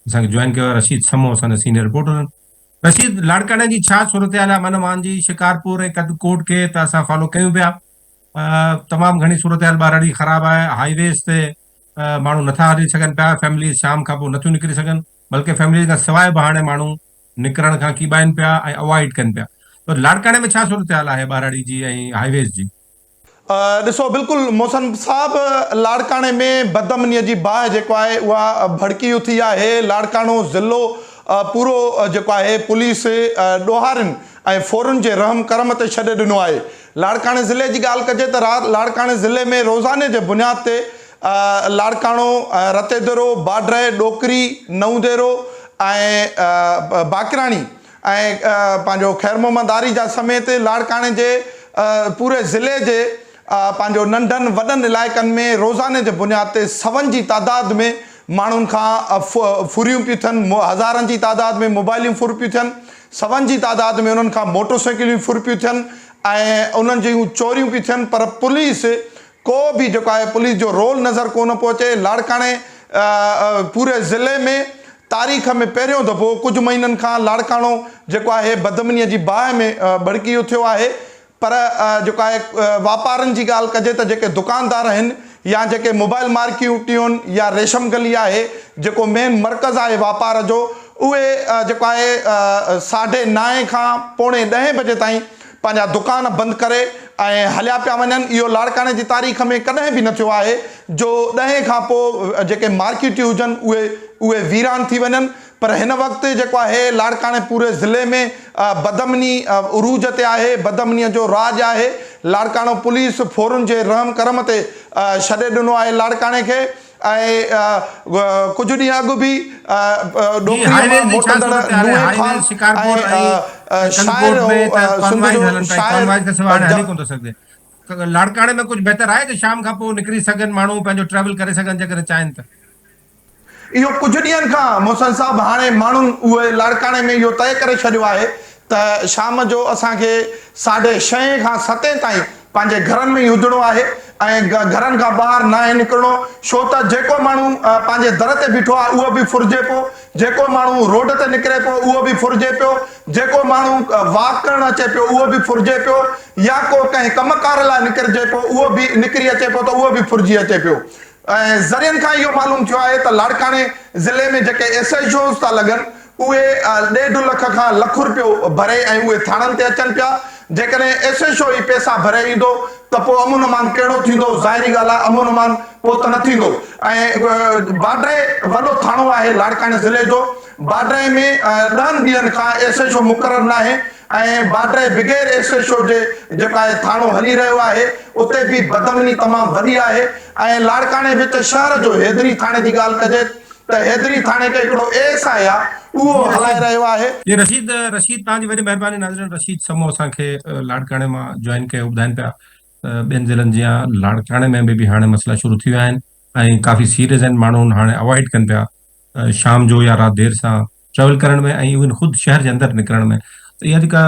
اسان کي جوائن ڪيو آهي رشيد سمو اسان جا سينيئر رپورٽر آهن رشيد لاڙڪاڻي جي ڇا صورتحال آهي من مان جي شڪارپور ۽ ڪد ڪوٽ کي ته اسان فالو ڪيون پيا تمام گھڻي صورتحال ٻاهر اڙي خراب آهي هائي ويز تي ماڻهو نٿا هلي سگھن پيا فيمليز شام کان پوء نٿيون نڪري سگھن بلڪه فيمليز کان سواء به هاڻي ماڻهو نڪرڻ کان ڪيٻائن پيا ۽ اوائڊ ڪن پيا ته لاڙڪاڻي ۾ ڇا صورتحال آهي ٻاهر اڙي جي ۽ هائي ويز جي ڏسو بلڪل محسن صاحب لاڙڪاڻي ۾ بدامني جي باهه جيڪو آهي اها ڀڙڪي اٿي آهي لاڙڪاڻو ضلعو پورو جيڪو آهي پوليس ڏوهارين ۽ ڦورن جي رحم ڪرم تي ڇڏي ڏنو آهي لاڙڪاڻي ضلعي جي ڳالهه ڪجي ته لاڙڪاڻي ضلعي ۾ روزاني جي بنياد تي لاڙڪاڻو رتيدرو باڊري ڏوڪري نئون ديرو ۽ باقراڻي ۽ پنهنجو خير محمد آري جا سميت لاڙڪاڻي جي پوري ضلعي جي پنهنجو ننڍن وڏن علائقن ۾ روزاني جي بنياد تي سون جي تعداد ۾ ماڻهن کان ڦريون پيون ٿين هزارن جي تعداد ۾ موبائليون ڦر پيون ٿين سون جي تعداد ۾ انهن کان موٽرسائيڪليون ڦر پيون ٿين ۽ انهن جون چوريون پيون ٿين پر پوليس ڪو به جيڪو آهي پوليس جو رول نظر ڪونه پيو اچي لاڙڪاڻي پوري ضلعي ۾ تاريخ ۾ پهريون دفعو ڪجهه مهينن کان لاڙڪاڻو جيڪو آهي بدامنيء جي باهه ۾ ٻڙڪي اٿيو آهي پر جيڪو آهي واپارن جي ڳالهه ڪجي ته جيڪي دڪاندار آهن يا جيڪي موبائل مارڪيوٽيون يا ريشم گلي آهي جيڪو مين مرڪز آهي واپار جو اهي جيڪو آهي ساڍي نائين کان پوڻي ڏهين بجي تائين پنهنجا دڪان بند ڪري ۽ هليا پيا وڃن اهو لاڙڪاڻي جي تاريخ ۾ ڪڏهن به نه ٿيو آهي جو ڏهين کان پوء جيڪي مارڪيٽيون هجن اهي اهي ويران ٿي وڃن پر هن وقت جيڪو آهي لاڙڪاڻي پوري ضلعي ۾ بدامني عروج تي آهي بدامني جو راڄ آهي لاڙڪاڻو پوليس ڦورن جي رحم ڪرم تي ڇڏي ڏنو آهي لاڙڪاڻي کي ڪجهه ڏينهن اڳ به ڏوڪريء مان موٽندڙ نوحي خان ۽ شاعر هو سنڌ جو شاعر. لاڙڪاڻي ۾ ڪجهه بهتر آهي ته شام کان پوء نڪري سگهن ماڻهو پنهنجو ٽريول ڪري سگهن جيڪڏهن چاهين ته. اهو ڪجهه ڏينهن کان محسن صاحب هاڻي ماڻهن اهي لاڙڪاڻي ۾ اهو طئي ڪري ڇڏيو آهي ته شام جو اسان کي ساڍي شئين کان ستين تائين پنهنجي گهرن ۾ ئي هجڻو آهي ۽ گهرن کان ٻاهر ناهي نڪرڻو ڇو ته جيڪو ماڻهو پنهنجي در تي بيٺو آهي اهو به ڦرجي پيو جيڪو ماڻهو روڊ تي نڪري پيو اهو به ڦرجي پيو جيڪو ماڻهو واڪ ڪرڻ اچي پيو اهو به ڦرجي پيو يا ڪو ڪنهن ڪم ڪار لاء نڪرجي پيو اهو به نڪري اچي پيو ته اهو به ڦرجي اچي پيو ذريعن کان اهو معلوم ٿيو آهي ته لاڙڪاڻي ضلعي ۾ جيڪي ايس ايڇ اوز ٿا لڳن اهي ڏيڍ لک کان لک رپيو ڀري ۽ اهي ٿاڻن تي اچن پيا جيڪڏهن ايس ايڇ او ئي پيسا ڀري ايندو ته پوء امن امان ڪهڙو ٿيندو ظاهري ڳالهه آهي امن امان پوء ته نه ٿيندو ۽ باڊري وڏو ٿاڻو آهي لاڙڪاڻي ضلعي جو باڊري ۾ ڏهن ڏينهن کان ايس ايڇ او مقرر ناهي ۽ باڊري بگير ايس ايڇ او جي جيڪو آهي ٿاڻو هلي رهيو آهي اتي به بدامني تمام وڏي آهي ۽ لاڙڪاڻي وچ شهر جو حيدري ٿاڻي جي ڳالهه ڪجي ته حيدري ٿاڻي کي هڪڙو ايس آء آء اهو هلائي رهيو آهي. جي رشيد رشيد توهان جي وڏي مهرباني ناظرين رشيد سمو اسان کي لاڙڪاڻي مان جوائن ڪيو ٻڌائين پيا ته ٻين ضلعن جيان لاڙڪاڻي ۾ به به هاڻي مسئلا شروع ٿي ويا آهن ۽ ڪافي سيريس آهن ماڻهون هاڻي اوائڊ ڪن پيا شام جو يا رات دير سان ٽريول ڪرڻ ۾ ۽ ايون خود شهر جي اندر نڪرڻ ۾ ته اها جيڪا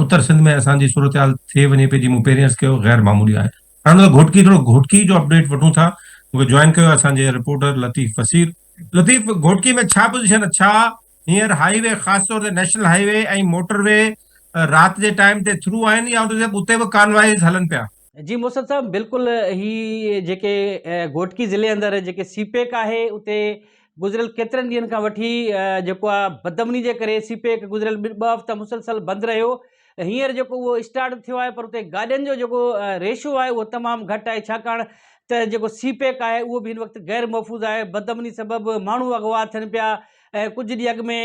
اتر سنڌ ۾ اسان جي صورتحال ٿئي وڃي پئي جي مون پهرين عرض ڪيو غير معمولي آهي. هاڻ ته گهوٽڪي ٿورو گهوٽڪي جو اپڊيٽ وٺون ٿا جن کي جوائن ڪيو آهي اسان جي رپورٽر لطيف فصيح. لطيف گهوٽڪي ۾ ڇا پوزيشن آهي ڇا هينئر هائي وي خاص طور تي national highway ۽ motorway رات جي ٽائيم تي ٿرو آهن يا اتي به ڪانوائيز هلن پيا. جي موسد صاحب بلڪل هي جيڪي گهوٽڪي ضلعي اندر جيڪي سي پيڪ آهي اتي گذريل ڪيترن ڏينهن کان وٺي جيڪو آ بدمني جي ڪري سي پيڪ گذريل ٻه هفته مسلسل بند رهيو هينئر جيڪو اهو اسٽارٽ ٿيو آهي پر اتي گاڏين جو جيڪو ريشو آهي اهو تمام گهٽ آهي ڇاڪاڻ ته جيڪو سي پيڪ آهي اهو به هن وقت غير محفوظ آهي بدمني سبب ماڻهو اغوا ٿين پيا ۽ ڪجهه ڏينهن اڳ ۾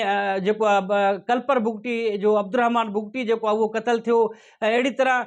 جيڪو آهي ڪلپر بگٽي جو عبدالرحمان بگٽي جيڪو آهي اهو قتل ٿيو ۽ اهڙي طرح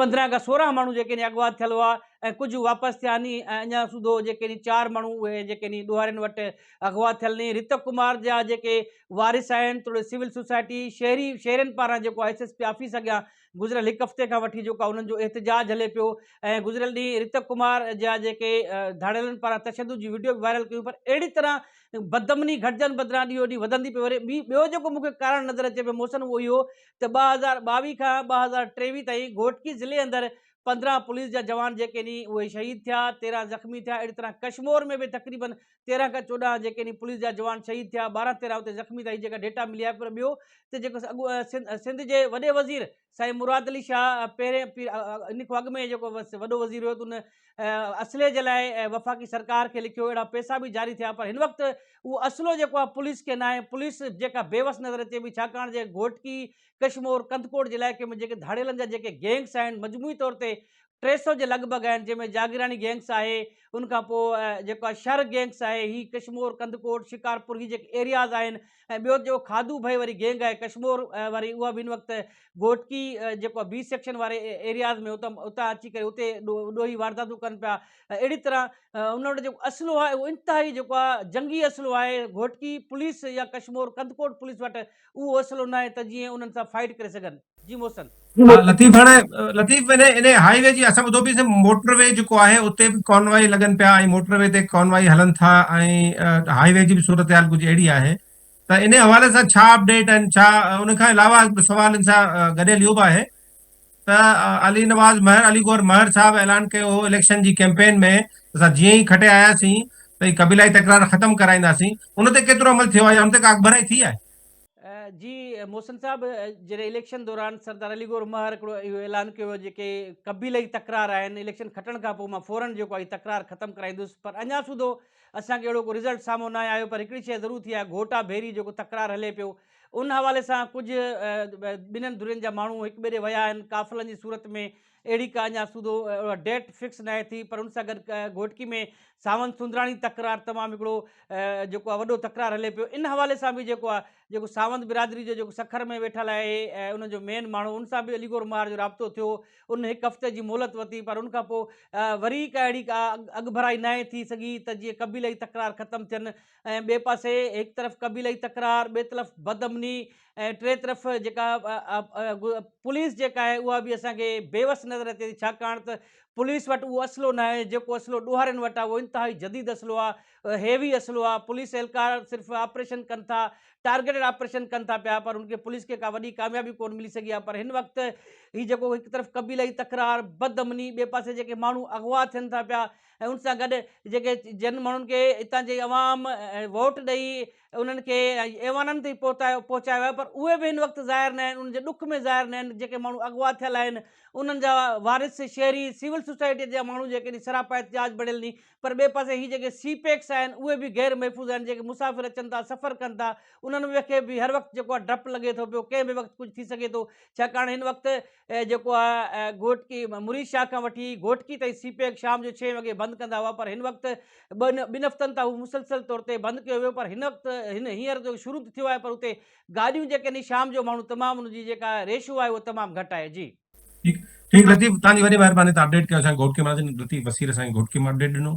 پندرهن کان سورهن ماڻهو جيڪي ني اغوا ٿيل هئا ۽ ڪجهه واپس ٿيا ني ۽ اڃا سوڌو جيڪي ني چار ماڻهو اهي جيڪي ني ڏوهارين وٽ اغوا ٿيل ني رتو ڪمار جا جيڪي وارث آهن توڙي سول سوسائٽي شهري شهرين پاران جيڪو آء ايس ايس پي آفيس اڳيان گذريل هڪ هفتي کان وٺي جيڪو انهن جو احتجاج هلي پيو ۽ گذريل ڏينهن رتو ڪمار جا جيڪي ڌاڙيلن پاران تشدد جي وڊيو به وائرل ڪيون پر اهڙي طرح بدامني گهٽجڻ بدران ڏينهون ڏينهن وڌندي پئي وري ٻيو جيڪو مون کي ڪارڻ نظر اچي پيو محسن اهو اهي هو ته ٻه هزار ٻاويهه کان ٻه هزار ٽيويهه تائين گهوٽڪي ضلعي اندر پندرهن پوليس جا جوان جيڪي ني اهي شهيد ٿيا تيرهن زخمي ٿيا اهڙي طرح ڪشمور ۾ به تقريبن تيرهن کان چوڏهن جيڪي ني پوليس جا جوان شهيد ٿيا ٻارهن تيرهن اتي زخمي ٿيا هي جيڪا ڊيٽا ملي آهي پر ٻيو ته جيڪو اڳو سنڌ جي وڏي وزير سائين مراد علي شاهه پهرين ان کان اڳ ۾ جيڪو وڏو وزير هيو ته ان اسلحي جي لاء وفاقي سرڪار کي لکيو اهڙا پيسا به جاري ٿيا پر هن وقت اهو اسلحو جيڪو آهي پوليس کي ناهي پوليس جيڪا بيوس نظر اچي پئي ڇاڪاڻ جي گهوٽڪي ڪشمور ڪنڌڪوٽ جي علائقي ۾ جيڪي ڌاڙيلن جا جيڪي گينگس آهن مجموعي طور تي ٽي سو جي لڳ ڀڳ آهن جنهن ۾ جاگيراڻي گينگس آهي ان کان پوء جيڪو شر گينگس آهي هي ڪشمور ڪنڌڪوٽ شڪارپور هي جيڪي ايرياز آهن ۽ ٻيو جو کاڌو ڀي وري گينگ آهي ڪشمور وري اها به ان وقت گهوٽڪي جيڪو بي سيڪشن واري ايرياز ۾ اتان اتان اچي ڪري اتي ڏوهي وارداتون ڪن پيا اهڙي طرح ان وٽ جيڪو اسلحو آهي اهو انتهائي جيڪو آهي جنگي اسلحو آهي گهوٽڪي پوليس يا ڪشمور ڪنڌڪوٽ پوليس وٽ اهو اسلحو ناهي ته جيئن انهن سان فائٽ ڪري سگهن ها لطيف هاڻي لطيف انهي انهي هائي وي جي اسان ٻڌو پي سي موٽر وي جيڪو آهي اتي به ڪانوائي لڳن پيا ۽ موٽر وي تي ڪانوائي هلن ٿا ۽ هائي وي جي به صورتحال ڪجهه اهڙي آهي ته انهي حوالي سان ڇا اپڊيٽ آهن ڇا ان کان علاوه هڪ ٻيو سوال ان سان گڏيل اهو به آهي ته علي نواز مهر علي گوهر مهر صاحب اعلان ڪيو هو اليڪشن جي ڪيمپين ۾ اسان جيئن ئي کٽي آياسين ته هي قبيلائي تڪرار ختم ڪرائينداسين ان تي ڪيترو عمل ٿيو آهي يا ان تي ڪا اڳڀرائي ٿي آهي جي محسن صاحب جڏهن اليڪشن دوران سردار علي گور مهر هڪڙو اهو اعلان ڪيو هو جيڪي قبيلي تڪرار آهن اليڪشن کٽڻ کان پوء مان فورن جيڪو آهي تڪرار ختم ڪرائيندس پر اڃا سوڌو اسان کي اهڙو ڪو رزلٽ سامهون نه آيو پر هڪڙي شيء ضرور ٿي آهي گهوٽا ڀيري جيڪو تڪرار هلي پيو ان حوالي سان ڪجهه ٻنهن ڌرين جا ماڻهو هڪ ٻئي ڏي ويا آهن قافلن جي صورت ۾ اهڙي ڪا اڃا سوڌو ڊيٽ فڪس ناهي ٿي پر ان سان گڏ گهوٽڪي ۾ ساوند سندراڻي تڪرار تمام هڪڙو جيڪو آهي وڏو تڪرار هلي پيو ان حوالي سان به جيڪو آهي جيڪو ساوند برادري جو جيڪو سکر ۾ ويٺل آهي ان جو مين ماڻهو ان سان به علي گور مار جو رابطو ٿيو ان هڪ هفتي جي مهلت ورتي پر ان کان پوء وري ڪا اهڙي ڪا اڳڀرائي ناهي ٿي سگهي ته جيئن قبيلي تڪرار ختم ٿين ۽ ٻئي پاسي هڪ طرف قبيلائي تڪرار، ٻئي طرف بدامني ۽ ٽئين طرف جيڪا پوليس جيڪا آهي اها به اسان کي بيوس نظر اچي ٿي ڇاڪاڻ ته پوليس وٽ اهو اسلحو نه آهي جيڪو اسلحو ڏوهارين وٽ آهي اهو انتهائي جديد اسلحو آهي هيوي اسلحو آهي پوليس اهلڪار صرف آپريشن ڪن ٿا ٽارگيٽ آپريشن ڪن ٿا پيا پر ان کي پوليس کي ڪا وڏي ڪاميابي ڪون ملي سگهي آهي پر هن وقت هي جيڪو هڪ طرف قبيلائي تڪرار بدامني ٻئي پاسي جيڪي ماڻهو اغوا ٿين ٿا پيا ۽ ان سان گڏ جيڪي جن ماڻهن کي اتان جي عوام ووٽ ڏئي انهن کي ايوانن تائين پهتايو پهچايو آهي پر اهي به هن وقت ظاهر نه آهن انهن جي ڏک ۾ ظاهر نه آهن جيڪي ماڻهو اغوا ٿيل آهن انهن جا وارث شهري سول سوسائٽي جا ماڻهو جيڪي ني سراپا احتجاج بڻيل ني پر ٻئي پاسي هي جيڪي سي پيڪس آهن اهي به غير محفوظ آهن جيڪي مسافر اچن ٿا سفر ڪن ٿا انهن کي به هر وقت جيڪو آهي ڊپ لڳي ٿو پيو ڪنهن به وقت ڪجهه ٿي سگهي ٿو ڇاڪاڻ هن وقت اهي جيڪو آهي گهوٽڪي مريد شاهه کان وٺي گهوٽڪي تائين سي پيڪ شام جو ڇهين وڳي بند ڪندا هئا پر هن وقت ٻن ٻن هفتن تان هو مسلسل طور تي بند ڪيو ويو پر هن وقت هن هينئر جو شروع ٿيو آهي پر اتي گاڏيون جيڪي ني شام جو ماڻهو تمام ان جي جيڪا ريشو آهي اهو تمام گهٽ آهي جي ٺيڪ ٺيڪ لطيف تانجي وڏي مهرباني تان اپڊيٽ ڪيو اسان گهوٽڪي مان لطيف وسير اسان گهوٽڪي مان اپڊيٽ ڏنو.